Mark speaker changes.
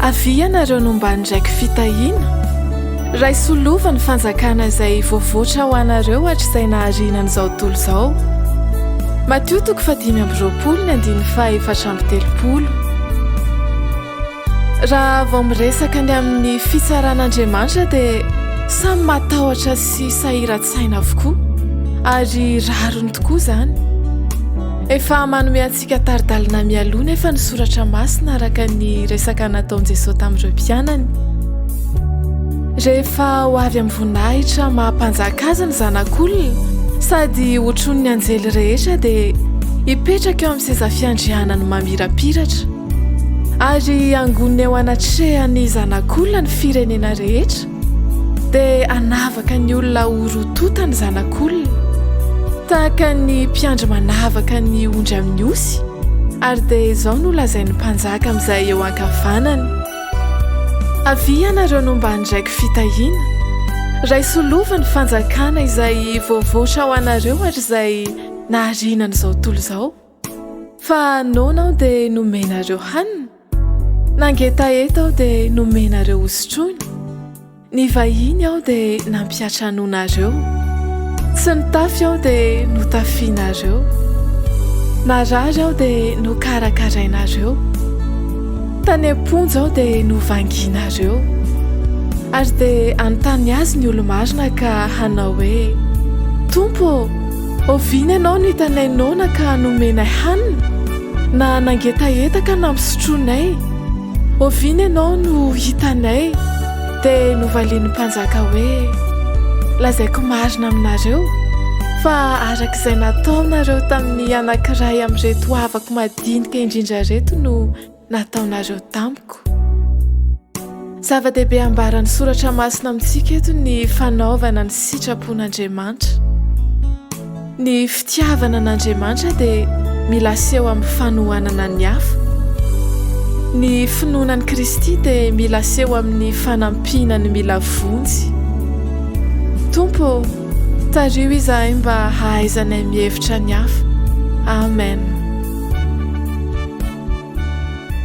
Speaker 1: Avia nareo no mba ndraiky fitahiana Raisolova ny fanjakana izay voavoatra ho anareo hatrizay nahariana an'izao tontolo izao. Matio toko fahadimy amby roapolo ny andininy fahaefatra amby telopolo. Raha vao miresaka ny amin'ny fitsaran'Andriamanitra dia samy matahotra sy sahiran-tsaina avokoa ary rariny tokoa izany. Efa manome antsika tari-dalana mialoha nefa ny soratra masina araka ny resaka nataon'i Jesoa tamin'ireo mpianany. Rehefa ho avy amin'ny voninahitra maha-mpanjaka azy ny zanak'olona sady hotron'ny anjely rehetra dia hipetraka eo amin'ny seza fiandrianany mamirapiratra. Ary hangonina eo anatrehan'ny Zanak'olona ny firenena rehetra, dia hanavaka ny olona ho rotota ny Zanak'olona, tahaka ny mpiandry manavaka ny ondry amin'ny osy, ary dia izao no lazain'ny mpanjaka amin'izay eo ankavanany, Avia ianareo no mba handraiko fitahiana, raiso lova ny fanjakana izay voavoatra ho anareo ary izay nahariana an'izao tontolo izao. Fa noana aho dia nomenareo hanina, nangetaheta aho dia nomenareo hosotroina, nivahiny aho dia nampiantranoanareo, tsy nitafy aho dia notafianareo, narary aho dia nokarakarainareo, tany am-ponja aho dia novangianareo. Ary dia hanontany azy ny olo-marina ka hanao hoe, Tompo ô! Oviana ianao no hitanay noana ka nomenay hanina, na nangetaheta ka nampisotroinay? Oviana ianao no hitanay, dia novalian'ny mpanjaka hoe, Lazaiko marina aminareo, fa araka izay nataonareo tamin'ny anankiray amin'ireto havako madinika indrindra ireto no nataonareo tamiko. Zava-dehibe ambaran'ny soratra masina amintsika eto ny fanaovana ny sitrapon'Andriamanitra. Ny fitiavana an'Andriamanitra dia mila aseho amin'ny fanohanana ny hafa. Ny finoana an'i Kristy dia mila aseho amin'ny fanampiana ny mila vonjy. Tompo Tariho izahay mba hahaizanay mihevitra ny hafa. Amen.